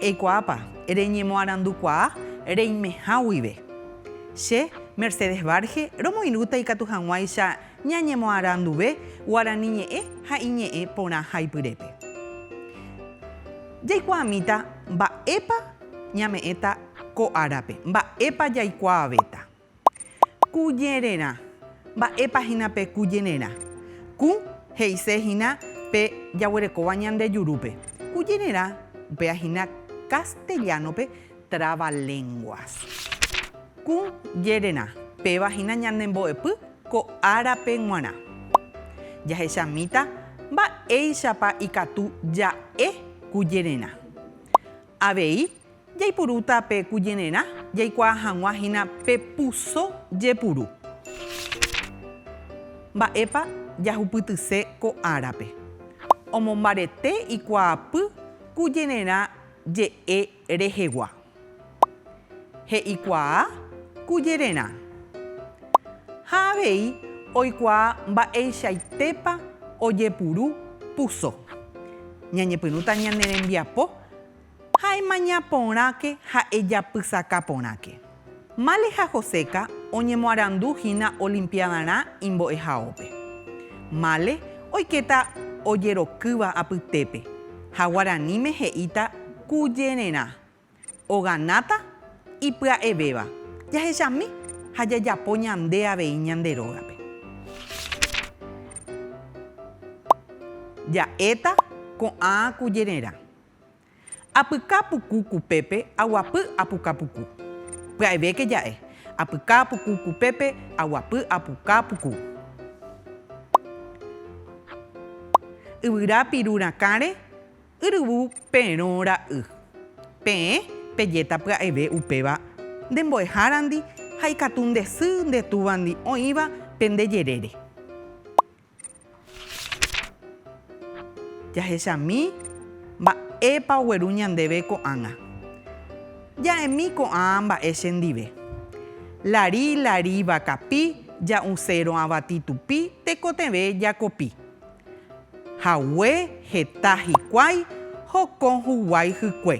Eikuaápa, reñemoarandukuaa reimeha guive. Che, Mercedes Barge, romoirũta ikatu hag̃uáicha ñañemoaranduve guarani ñe'ẽ ha iñe'ẽ porã haipyrépe. Jaikuaamíta mba'épa ñame'ẽta ko árape, mba'épa jaikuaavéta. Ku jererã. Mba'épa hína pe ku jererã? Ku he'ise hína pe jaguerekóva ñande jurúpe. Ku jererã upéva hína castellano-pe trabalenguas. Ku jererã, péva hína ñande mbo'epy ko árape g̃uarã. Jahechamíta mba'éichapa ikatu ja'e ku jererã. Avei Jaipurúta pe kujenerã jaikuaa hag̃ua hína pe puso jepuru. Mba'épa jahupytyse ko árape? Omombarete ikuaapy kujenerã je'e rehegua. He'ikuaa kujererã. Ha avei oikuaa mba'eichaitépa ojepuru puso. Ñañepyrũta ñane rembiapo Ha emaña porãke ha ejapysaka porãke. Male ha Joséka oñemoarandu hína olimpiadarã imbo'ehaópe. Male oikéta ojerokýva apytépe ha guaraníme he'íta kujererã. Oganáta ipya'evéva. Jahechami ha jajapo ñande avei ñande rógape. Ja'éta ko'ã kujererã. Apyka puku kupépe aguapy apuka puku. Pya'evéke ja'e. Apyka puku kupépe aguapy apuka puku. Yvyra piru rakãre yryvu perõ ra'y. Peẽ pejéta pya'eve upéva nde mbo'ehárandi ha ikatu nde sy nde túvandi oĩva pende jerére. Jahechami mba'épa ogueru ñandéve ko'ág̃a. Ja'emi ko'ã mba'e chendive. Lari, lari vakapi, ja'usérõ avati tupi, tekotevẽ jakopi. Hague, heta hikuái, hokõ huguái hykue.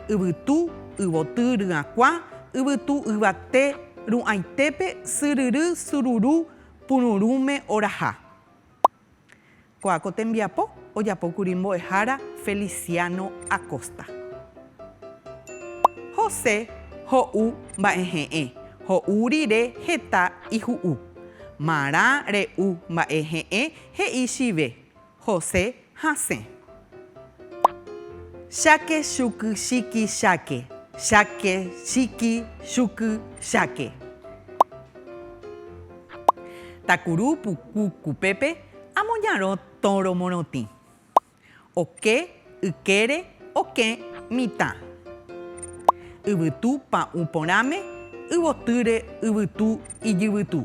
Yvytu, yvoty ryakuã, yvytu yvate, ru'ãitépe, syryry, sururu, Pururũme oraha. Ko'ã ko tembiapo ojapókuri mbo'ehára Feliciano Acosta. José ho'u mba'ehe'ẽ, ho'u rire heta iju'u. Marã re'u mba'ehe'ẽ he'i chive, José hasẽ. Cháke chuky chíky cháke. Cháke chíky chuky cháke. Takuru puku kupépe amoñarõ tórõ morotĩ. Oke Ykére okẽ mitã. Yvytu pa'ũ porãme, yvotýre yvytu ijyvytu.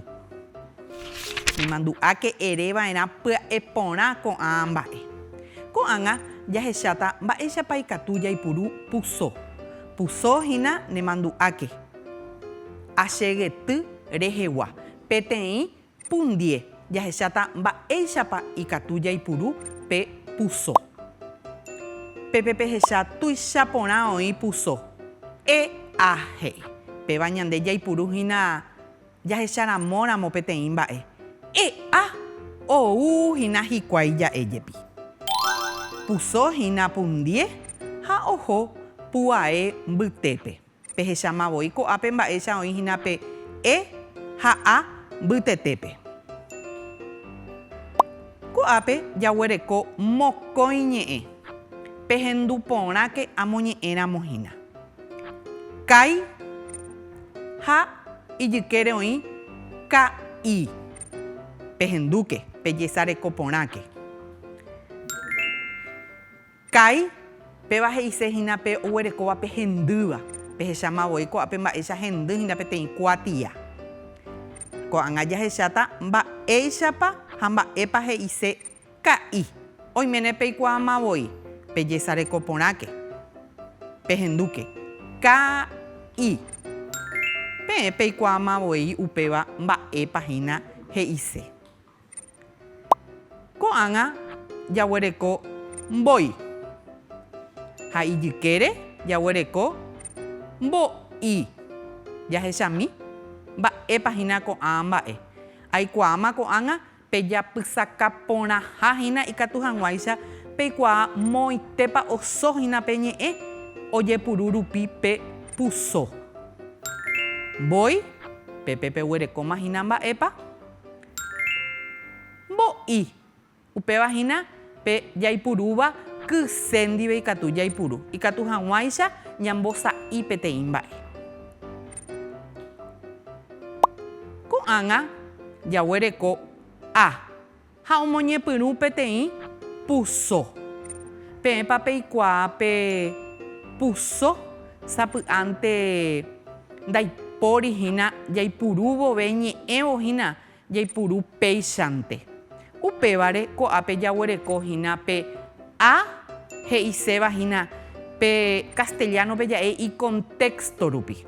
Nemandu'áke ere va'erã pya'e porã ko'ã mba'e. Ko'ág̃a jahecháta mba'éichapa ikatu jaipuru puso. Puso hína nemandu'áke. Achegety rehegua peteĩ Pundie jahecháta mba'éichapa ikatu jaipuru pe puso. Pépe pehecha tuicha porã oĩ puso. EA he'i, Péva ñande jaipuru hína jahecharamóramo peteĩ mba'e. EA ou hína hikuái ja'e jepi. Puso hína pundie ha oho pu'ae mbytépe. Pehecháma voi ko'ápe mba'éicha oĩ hína pe e ha a mbytetépe. Ko'ápe jaguereko mokõi ñe'ẽ, pehendu porãke amoñe'ẽramo hína. Kái ha ijykére oĩ ka'i. Pehendúke, pejesareko porãke. Kái, Péva he'ise hína pe oguerekóva pe hendýva, pehecháma voi ko'ápe mba'éicha hendy hína peteĩ kuatia. Ko'ág̃a jahecháta mba'éichapa ha mba'épa he'ise ka'i. Oiméne peikuaáma voi, pejesareko porãke, pehendúke. Ka'i. Peẽ peikuaáma voi upéva mba'épa hína he'ise. Ko'ág̃a jaguereko mbói. Ha ijykére jaguereko mbo'i. Jahechami, Mba'épa hína ko'ã mba'e? Aikuaáma ko'ág̃a pe japysaka porãha hína ikatu hag̃uáicha peikuaa moõitépa oso hína pe ñe'ẽ ojepuru rupi pe puso. Mbói, Pépe peguerekóma hína mba'épa? Mbo'i. Upéva hína pe jaipurúva kyse ndive ikatu jaipuru ikatu hag̃uáicha ñambosa'i peteĩ mba'e. Ko'ág̃a jaguereko A ha omoñepyrũ peteĩ puso. Peẽpa peikuaa pe puso? Sapy'ánte ndaipóri hína jaipuru vove ñe'ẽvo hína jaipuru péichante. Upévare ko'ápe jaguereko hína pe a he'iséva hína pe castellano-pe ja'e ikontexto rupi.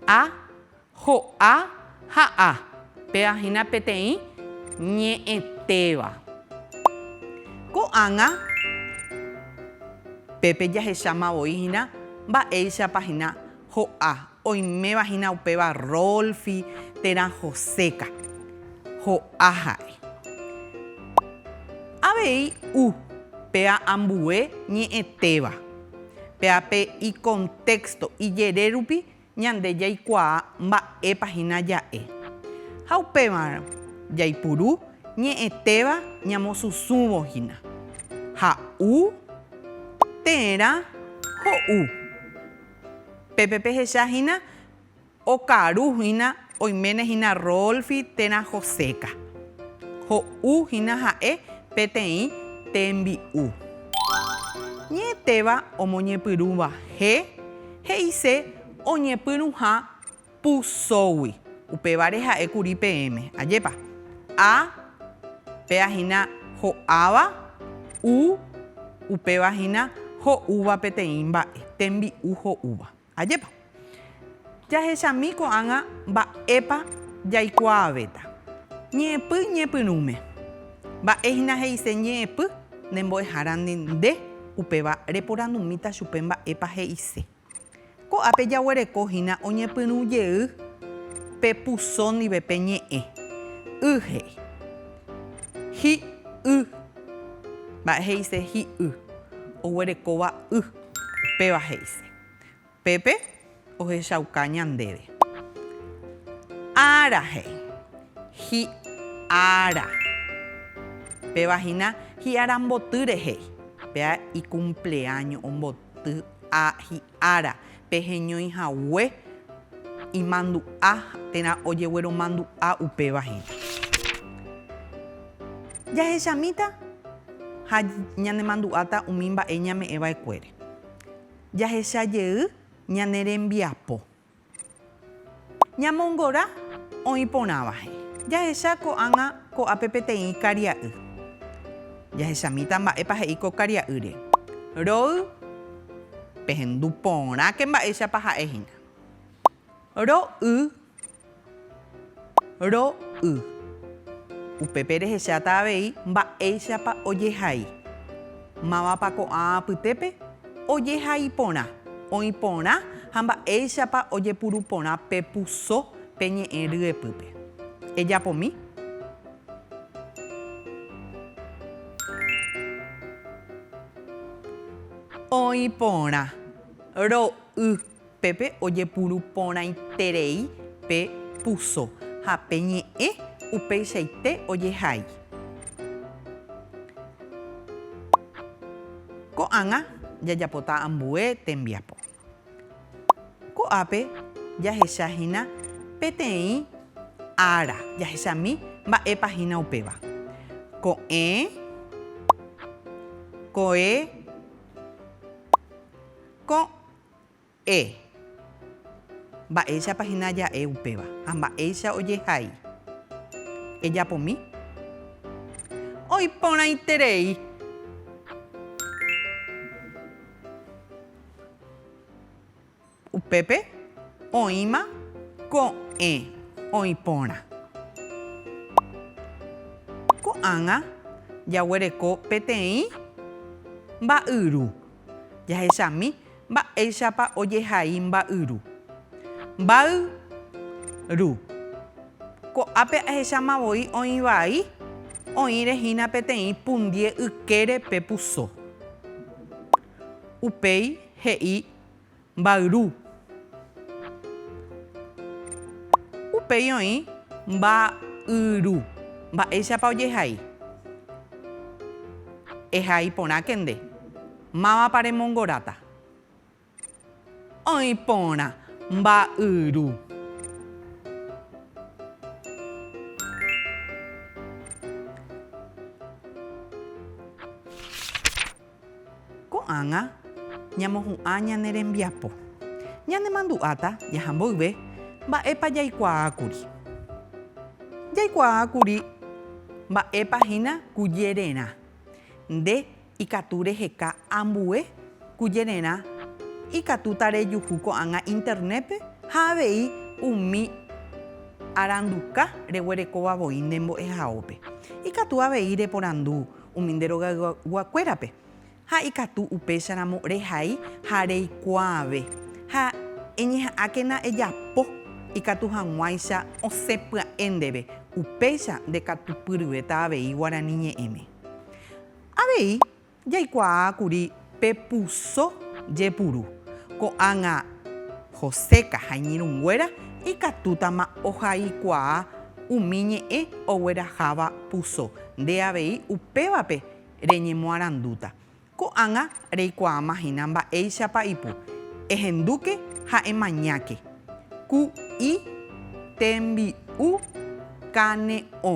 A Ho'a ha a. Péva hína peteĩ ñe'ẽtéva. Ko'ág̃a pépe jahecháma voi hína mba'éichapa hína ho'a. Oiméva hína upéva Rolfi térã Joséka. Ho'a ha'e. Avei u. Péva ambue ñe'ẽtéva. Péva pe ikontexto, ijere rupi Ñande jaikuaa mba'épa hína ja'e. Ha upémarõ jaipuru ñe'ẽtéva ñamosusũvo hína. Ha'u, térã, ho'u. Pépe pehecha hína okaru hína Oiméne hína Rolfi térã Joséka. Ho'u hína ha'e peteĩ tembi'u. Ñe'ẽtéva omoñepyrũva he, he'ise oñepyrũha pusógui. Upévare ha'e kuri peẽme. Ajépa. A, Péa hína ho'áva. U, Upéva hína ho'úva peteĩ mba'e, tembi'u ho'úva. Ajépa. Jahechami ko'ág̃a mba'épa jaikuaavéta. Ñe'ẽpy ñepyrũme. Mba'e hína he'ise ñe'ẽpy ne mbo'ehárandi nde, upéva reporandumíta chupe mba'épa he'ise. Ko'ápe jaguereko hína oñepyrũ jey pe puso ndive pe ñe'ẽ. Y he'i. Hi y. Mba'e he'ise hi y. Oguerekóva y. Upéva he'ise. Pépe ohechauka ñandéve. Ára he'i. Hi'ára. Péva hína hi'ára mbotýre he'i. Péa ikumpleáño omboty a hi'ára. Pe heñói hague imandu'a térã ojegueromandu'a upéva hína. Jahechamíta ha ñanemandu'áta umi mba'e ñame'ẽva'ekuére. Jahecha jey ñane rembiapo. Ñamongora oĩ porãvahe. Jahecha ko'ág̃a ko'ápe peteĩ karia'y. Jahechamíta mba'épa he'i ko karia'ýre. Roy, pehendu porãke mba'éichapa ha'e hína. Ro'y, ro'y. Upépe rehecháta avei mba'éichapa ojehai. Mávapa ko'ã apytépe ojehai porã, oĩ porã ha mba'éichapa ojepuru porã pe puso pe ñe'ẽ ryepýpe. Ejapomi. Oĩ porã. Ro'y. Pépe ojepuru porãiterei pe puso ha pe ñe'ẽ upeichaite ojehai. Ko'ág̃a jajapota ambue tembiapo. Ko'ápe jahecha hína peteĩ ára, jahechami mba'épa hína upéva. Ko'ẽ, ko'e, ko'. E. Mba'éichapa hína ja'e upéva ha mba'éicha ojehai? Ejapomi. Oiporãiterei. Upépe oĩma ko'ẽ oĩporã. Ko'ág̃a jaguereko peteĩ mba'yru. Jahechami mba'éichapa ojehai mba'yru. Mba'y ru. Ko'ápe ahecháma voi oĩ vai, oĩre hína peteĩ pundie ykére pe puso. Upéi he'i Mba'yru. Upéi oĩ mba'yru. Mba'éichapa ojehai? Ehai porãke nde. Mávapa remongoráta? Oĩ porã. Mba'yru. Ko'ág̃a ñamohu'ã ñane rembiapo. Ñanemandu'áta jaha mboyve mba'épa jaikuaákuri. Jaikuaákuri mba'épa hína kujererã. Nde ikatu reheka ambue kujererã ikatúta rejuhu ko'ág̃a Internétpe ha avei umi aranduka reguerekóva voi nde mbo'ehaópe. Ikatu avei reporandu umi nde rogayguakuérape, ha ikatu upécharamo rehai ha reikuaave, ha eñeha'ãkena ejapo ikatu hag̃uáicha osẽ pya'e ndéve, upéicha ndekatupyryvéta avei Guarani ñe'ẽme. Avei jaikuaa kuri Pepuso jepuru, ko'ág̃a Joséka ha iñirũnguéra ikatútama ohaikuaa umi ñe'ẽ ogueraháva puso, nde avei upévape reñemoarandúta. Ko'ág̃a reikuaáma hína mba'éichapa ipu, Ehendúke ha emañáke, ku'i tembi'u kane'õ.